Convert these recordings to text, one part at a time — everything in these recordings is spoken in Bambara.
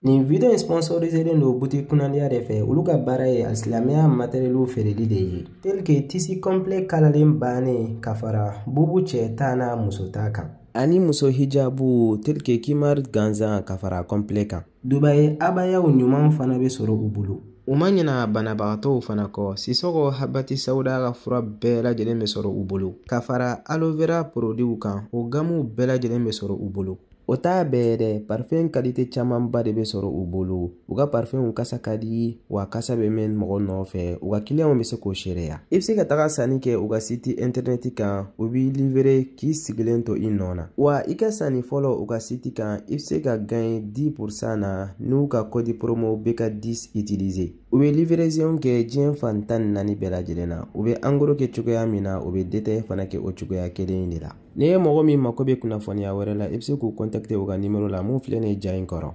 Nin video in sponsoriselen don butigi kunnadiya de fɛ olu ka baara ye alisilamɛya materiyɛliw feereli de ye telike tisi kɔnpilɛ kalalen bannen ka fara bubu cɛ ta n'a muso ta kan ani muso hijabu telike kimari gansan ka fara kɔnpilɛ kan dubai abayaw ɲuman fana bɛ sɔrɔ u bolo u ma ɲina banabagatɔw fana kɔ sisɔgɔ habati sawuda ka fura bɛɛ lajɛlen bɛ sɔrɔ u bolo ka fara aloe vera porodiw kan o gamuw bɛɛ lajɛlen bɛ sɔrɔ u bolo o t'a bɛɛ dɛ parifɛn kalite camanba de bɛ sɔrɔ u bolo u ka parifɛnw kasa ka di wa kasa bɛ mɛn mɔgɔ nɔfɛ u ka kiliyanw bɛ se k'o seereya i bɛ se ka taga sanni kɛ u ka siti intɛrɛnɛti kan u b'i livere k'i sigilen to i nɔ na wa i ka sanni fɔlɔ u ka siti kan i bɛ se ka gaɲe 10 pursan na n'u ka kɔdi promo BK 10 utiliser u bɛ livrezɔn kɛ diɲɛ fan tan ni naani bɛɛ lajɛlen na u bɛ angoro kɛ cogoya min na u bɛ detaye fana kɛ o cogoya kelen de la n'i ye mɔgɔ min mako bɛ kunnafoniya wɛrɛ la i bɛ se k'u kɔntakite u ka nimero la mun filɛ nin ye ja in kɔrɔ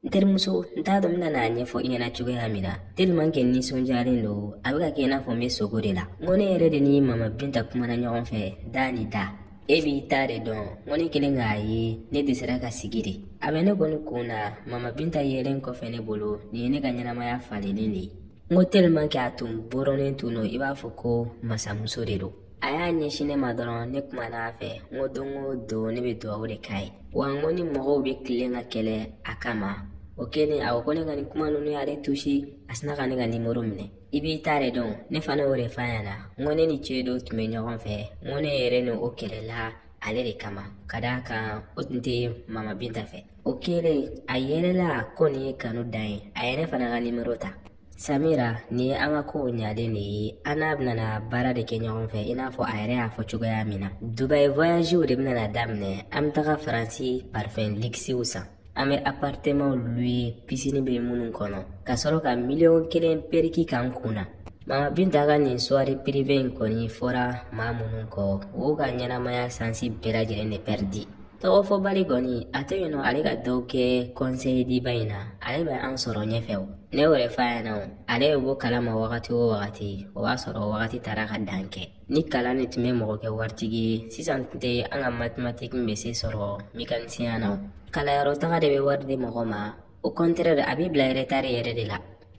n terimuso n t'a dɔn n bɛna n'a ɲɛfɔ i ɲɛna cogoya min na tellement que n nisɔndiyalen don a bɛ ka kɛ i n'a fɔ n bɛ sogo de la n ko ne yɛrɛ de ni mama binta kumana ɲɔgɔn fɛ da ni da e b'i ta de dɔn n ko ne kɛlen k'a ye ne dɛsɛra ka sigi de a bɛ ne kɔni kun na mama binta yelen kɔfɛ ne bolo nin ye ne ka ɲɛnamaya falenlen de ye n ko tellement que a tun bɔrɔnen tun don i b'a fɔ ko masamuso de don a y'a ɲɛsin ne ma dɔrɔn ne kumana a fɛ n ko don o don ne bɛ dugawu de k'a ye wa n ko ni mɔgɔw bɛ tilen ka kɛlɛ a kama o kɛlen a ko ko ne ka nin kuma ninnu y'ale tuse a sina ka ne ka nimoro minɛ i b'i ta de dɔn ne fana y'o de f'a ɲɛna n ko ne ni cɛ dɔ tun bɛ ɲɔgɔn fɛ n ko ne yɛrɛ ni o kɛlɛla ale de kama ka d'a kan o tun tɛ mama binta fɛ o kɛlen a yɛlɛla ko nin ye kanu dan ye a yɛrɛ fana ka nimoro ta samira nin ye an ka kow ɲalen de ye an n'a bɛna baara de kɛ ɲɔgɔn fɛ i n'a fɔ a yɛrɛ y'a fɔ cogoya min na dubai voyagew de bɛna daminɛ an bɛ taga faransi parfɛn likisiw san an bɛ apartɛmanw luye pisini bɛ minnu kɔnɔ ka sɔrɔ ka miliyɔn kelen periki k'an kun na mama binta ka nin suwari pirive in kɔni fɔra maa minnu kɔ o ka ɲɛnamaya sansi bɛɛ lajɛlen de pɛridi tɔgɔ fɔbali kɔni a tɛ yen n ko ale ka dɔ kɛ kɔnseyediba in na ale bɛ an sɔrɔ ɲɛfɛ o ne y'o de f'a ɲɛna o ale bɛ bɔ kala ma wagati o wagati o b'a sɔrɔ wagati taara ka dan kɛ ni kalan de tun bɛ mɔgɔ kɛ waritigi ye sisan tun tɛ an ka matematiki bɛ se sɔrɔ mekanisiyɛn na o kalanyɔrɔ taga de bɛ wari di mɔgɔ ma au contraire a b'i bila retari yɛrɛ de la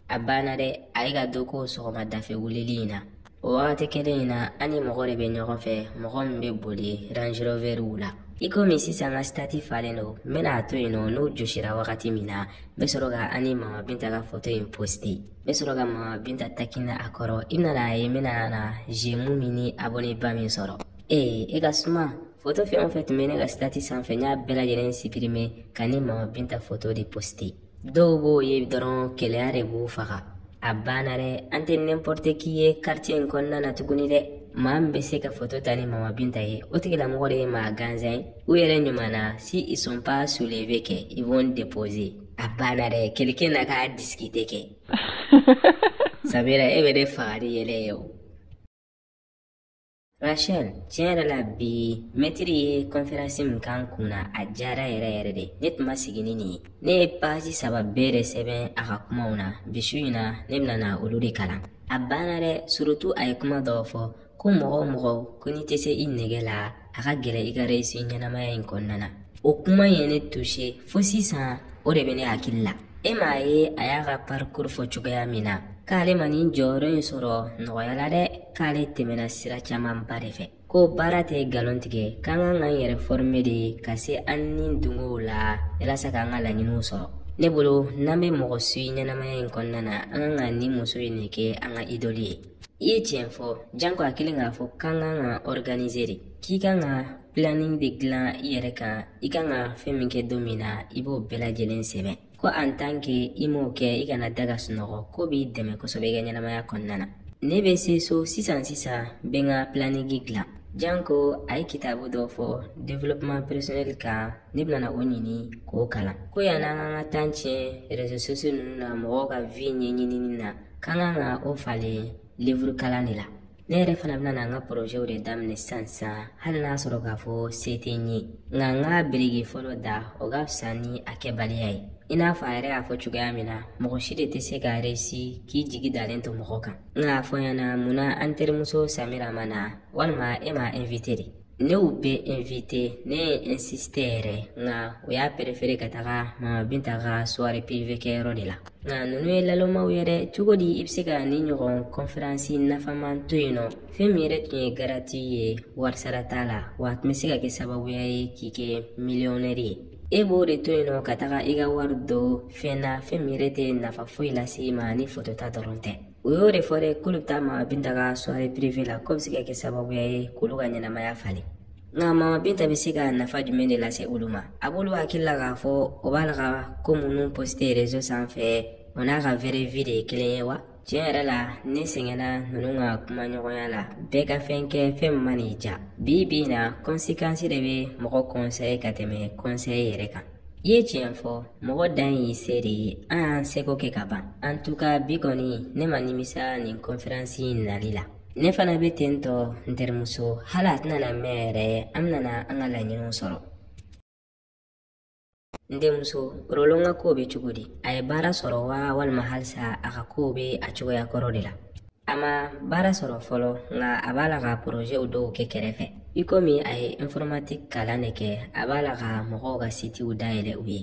a banna dɛ a ye ka do ko sɔgɔmada fɛ wulili in na o wagati kelen in na an ni mɔgɔ de bɛ ɲɔgɔn fɛ mɔgɔ min bɛ boli rangeroveriw la i komi sisan ka sitati falen don n bɛna a to yen nɔ n'o josira wagati min na n bɛ sɔrɔ ka an ni mama binta ka foto in poste n bɛ sɔrɔ ka mama binta takina a kɔrɔ i bɛna na a ye n bɛna na zemu min ni aboneba min sɔrɔ ee e ka suma foto fɛn o fɛn tun bɛ ne ka sitati sanfɛ n y'a bɛɛ lajɛlen sipirime ka n ni mama binta foto de poste dɔw b'o ye dɔrɔn keleya de b'u faga a banna dɛ an tɛ n'importe qui ye quartier in kɔnɔna na tuguni dɛ maa min bɛ se ka foto ta ni mama binta ye o tigilamɔgɔ de ye maa gansan ye u yɛrɛ ɲuman na si ils sont pas soulevés kɛ ils vont déposer a banna dɛ quelqu'un n'a qu'à discuter kɛ samira e bɛ ne faga ni yɛlɛ ye o Rachel, tiɲɛ yɛrɛ la bi mɛtiri ye kɔnferansi min k'an kun na a diyara yɛrɛ yɛrɛ de ne tun ma sigi ni nin ye ne ye page saba bɛɛ de sɛbɛn a ka kumaw na bi su in na ne bɛna na olu de kalan a banna dɛ surtout a ye kuma dɔw fɔ ko mɔgɔ o mɔgɔ ko n'i tɛ se i nege la a ka gɛlɛn i ka resi ɲɛnamaya in kɔnɔna na o kuma ye ne touché fo sisan o de bɛ ne hakili la e m'a ye a y'a ka parikuru fɔ cogoya min na k'ale ma nin jɔyɔrɔ in sɔrɔ nɔgɔya la dɛ k'ale tɛmɛna sira camanba de fɛ ko baara tɛ nkalon tigɛ k'an kan k'an yɛrɛ fɔrime de ka se an ni dungɔw la yalasa k'an ka laɲiniw sɔrɔ ne bolo n'an bɛ mɔgɔ suivre ɲɛnamaya in kɔnɔna na an kan ka nin muso in de kɛ an ka idɔli ye i ye tiɲɛ fɔ janko a kɛlen k'a fɔ k'an kan ka ɔriganize de k'i kan ka planning de dilan i yɛrɛ kan i kan ka fɛn min kɛ don min na i b'o bɛɛ lajɛlen sɛbɛn ko en tant que i m'o kɛ i kana da ka sunɔgɔ k'o b'i dɛmɛ kosɛbɛ i ka ɲɛnamaya kɔnɔna na ne bɛ se so sisan sisan n bɛ n ka planning dilan janko a ye kitabu dɔ fɔ développement personnel kan ne bɛna o ɲini k'o kalan ko yann'an k'an ka temps tiɲɛ réseaux sociaux ninnu na mɔgɔw ka vie ɲɛɲinini na k'an kan ka o falen livre kalan de la ne yɛrɛ fana bɛna na n ka porozɛw de daminɛ sisan sisan hali n'a sɔrɔ k'a fɔ se tɛ n ye nka n ka biriki fɔlɔ da o ka fisa ni a kɛbaliya ye i n'a fɔ a yɛrɛ y'a fɔ cogoya min na mɔgɔ si de tɛ se ka resi k'i jigi dalen to mɔgɔ kan nka a fɔ n ɲɛna munna an terimuso samira ma na walima e m'a invite de ne y'u bɛɛ invite ne ye insiste yɛrɛ nka u y'a perefere ka taga mama binta ka soirée privé kɛ yɔrɔ de la nka ninnu ye lalomaw ye dɛ cogo di i bɛ se ka nin ɲɔgɔn kɔnferansi nafaman to yen nɔ fɛn min yɛrɛ tun ye gratuit ye warisara t'a la wa a tun bɛ se ka kɛ sababuya ye k'i kɛ miliyɔnɛri ye e b'o de to yen nɔ ka taga i ka wari don fɛn na fɛn min yɛrɛ tɛ nafa foyi lase i ma ni foto ta dɔrɔn tɛ o y'o de fɔ dɛ k'olu bɛ taa mama binta ka soirée privée la k'o bɛ se ka kɛ sababuya ye k'olu ka ɲɛnamaya falen nka mama binta bɛ se ka nafa jumɛn de lase olu ma a b'olu hakili la k'a fɔ o b'a la ka ko minnu poste réseau sanfɛ o n'a ka vraie vie de ye kelen ye wa tiɲɛ yɛrɛ la ne sɛgɛnna ninnu ka kumaɲɔgɔnya la bɛɛ ka fɛn kɛ fɛn min mana i ja bi bi in na conséquence de bɛ mɔgɔ conseiller ka tɛmɛ conseil yɛrɛ kan i ye tiɲɛ fɔ mɔgɔ dan y'i se de ye an y'an seko kɛ ka ban en tout cas bi kɔni ne ma nimisa nin conférence in nali la ne fana bɛ ten tɔ n terimuso hali a tɛna na mɛn yɛrɛ an bɛna an ka laɲiniw sɔrɔ n denmuso Roland ka kow bɛ cogo di a ye baara sɔrɔ wa walima halisa a ka kow bɛ a cogoya kɔrɔ de la a ma baara sɔrɔ fɔlɔ nka a b'a la ka porozɛw dɔw kɛ kɛrɛfɛ i komi a ye informatique kalan de kɛ a b'a la ka mɔgɔw ka sitiw dayɛlɛ u ye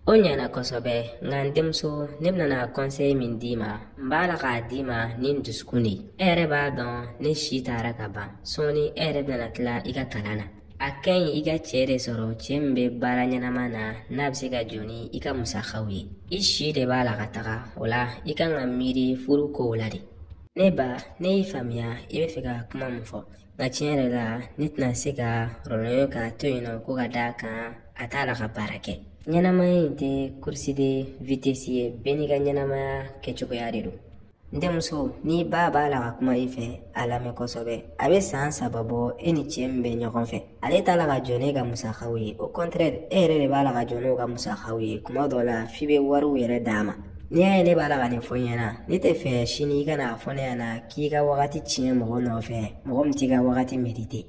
o ɲɛna kosɛbɛ nka n denmuso ne bɛna conseil min d'i ma n b'a la k'a d'i ma ni n dusukun de ye e yɛrɛ b'a dɔn ne si taara ka ban sɔɔni e yɛrɛ bɛna tila i ka kalan na a ka ɲi i ka cɛ de sɔrɔ cɛ min be baara ɲɛnama na n'a be se ka jɔ ni i ka musakaw ye i si de b'a la ka taga o la i kan ka miiri furu kow la de ne ba ne y'i faamuya i be fɛ ka kuma min fɔ nka tiɲɛ yɛrɛ la ne tɛna se ka Roland jɔ k'a to yen nɔ ko ka d'a kan a t'a la ka baara kɛ ɲɛnamaya in tɛ course de vitesse ye bɛɛ n'i ka ɲɛnamaya kɛcogoya de don n denmuso n'i ba b'a la ka kuma i fɛ a lamɛn kosɛbɛ a bɛ san saba bɔ e ni cɛ min bɛ ɲɔgɔn fɛ ale t'a la ka jɔ n'e ka musakaw ye au contraire e yɛrɛ de b'a la ka jɔ n'o ka musakaw ye kuma dɔ la f'i bɛ wariw yɛrɛ d'a ma n'i y'a ye ne b'a la ka nin fɔ i ɲɛna ne tɛ fɛ sini i kana a fɔ ne ɲɛna k'i ka wagati tiɲɛ mɔgɔ nɔfɛ mɔgɔ min t'i ka wagati mériter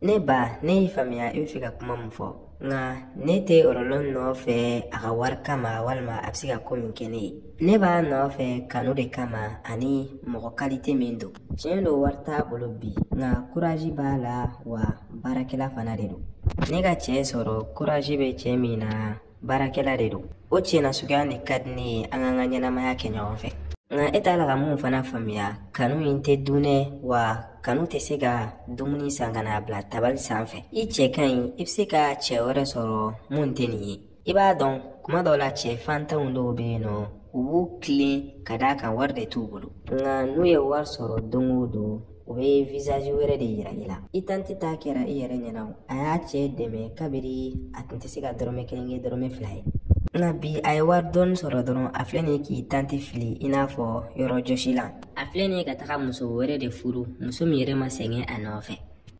Ne ba ne y'i faamuya i bɛ fɛ ka kuma min fɔ nka ne tɛ Roland nɔfɛ a ka wari kama walima a bɛ se ka ko min kɛ ne ye ne b'a nɔfɛ kanu de kama ani mɔgɔ kalite min don tiɲɛ don wari t'a bolo bi nka kurazi b'a la wa baarakɛla fana de don ne ka cɛ sɔrɔ kurazi bɛ cɛ min na baarakɛla de don o cɛ nasuguya de ka di ne ye an k'an ka ɲɛnamaya kɛ ɲɔgɔn fɛ nka e t'a la ka mun fana faamuya kanu in tɛ dun dɛ wa kanu tɛ se ka dumuni san ka n'a bila tabali sanfɛ i cɛ ka ɲi i bɛ se ka cɛ wɛrɛ sɔrɔ mun tɛ nin ye i b'a dɔn kuma dɔw la cɛ fantanw dɔw bɛ yen nɔ u b'u tilen ka d'a kan wari de t'u bolo nka n'u ye wari sɔrɔ don o don u bɛ visazi wɛrɛ de yira i la i tanti ta kɛra i yɛrɛ ɲɛna o a y'a cɛ dɛmɛ kabiri a tun tɛ se ka dɔrɔmɛ kelen kɛ dɔrɔmɛ fila ye nka bi a ye wari dɔɔni sɔrɔ dɔrɔn a filɛ nin ye k'i tanti fili i n'a fɔ yɔrɔ jɔsilan a filɛ nin ye ka taga muso wɛrɛ de furu muso min yɛrɛ ma sɛgɛn a nɔfɛ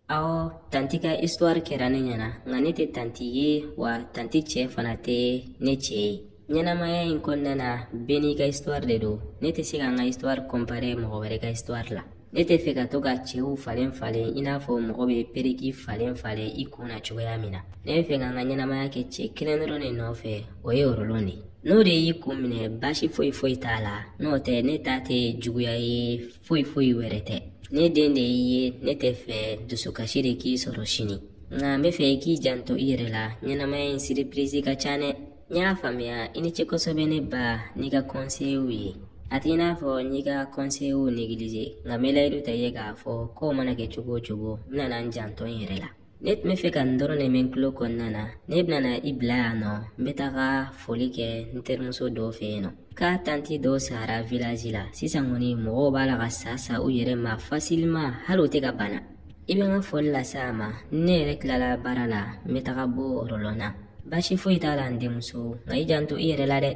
awɔ tanti ka histoire kɛra ne ɲɛna nka ne tɛ tanti ye wa tanti cɛ fana tɛ ne cɛ ye ɲɛnamaya in kɔnɔna na bɛɛ n'i ka histoire de don ne tɛ se ka n ka histoire comparer mɔgɔ wɛrɛ ka histoire la ne tɛ fɛ ka to ka cɛw falen falen i n'a fɔ mɔgɔ bɛ perruque falen falen i kun na cogoya min na ne bɛ fɛ ka n ka ɲɛnamaya kɛ cɛ kelen dɔrɔn de nɔfɛ o ye rɔlɔn de ye n'o de y'i kun minɛ baasi foyi foyi t'a la n'o tɛ ne ta tɛ juguya ye foyi foyi wɛrɛ tɛ ne den de y'i ye ne tɛ fɛ dusukasi de k'i sɔrɔ sini nka n bɛ fɛ i k'i janto i yɛrɛ la ɲɛnamaya in surprise ka ca dɛ n y'a faamuya i ni ce kosɛbɛ ne ba n'i ka kɔnseyew ye a t'i n'a fɔ n y'i ka kɔnseyew négliger nka n bɛ layidu ta i ye k'a fɔ kow mana kɛ cogo o cogo n bɛna n janto n yɛrɛ la ne tun bɛ fɛ ka nin dɔrɔn de mɛn tulo kɔnɔna na ne bɛna i bila yan nɔ n bɛ taga foli kɛ n terimuso dɔ fɛ yen nɔ k'a tanti dɔ sara village la sisan kɔni mɔgɔw b'a la ka sa sa u yɛrɛ ma facilement hali u tɛ ka bana i bɛ n ka foli lase a ma ne yɛrɛ tilala baara la n bɛ taga bɔ rɔlɔn na baasi foyi t'a la n denmuso nka i janto i yɛrɛ la dɛ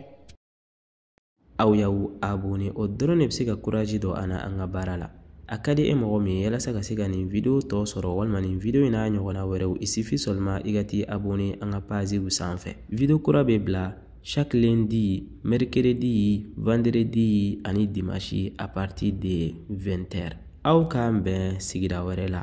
aw y'aw abone o dɔrɔn de bɛ se ka courage don an na an ka baara la a ka di e mɔgɔ min ye yalasa ka se ka nin video tɔ sɔrɔ walima nin video in n'a ɲɔgɔnna wɛrɛw il suffit seulement i ka t'i abone an ka paziw sanfɛ video kura bɛ bila Chaque lundi, mercredi, vendredi ani dimanche à partir de 20h. Aw k'an bɛn sigira wɛrɛ la.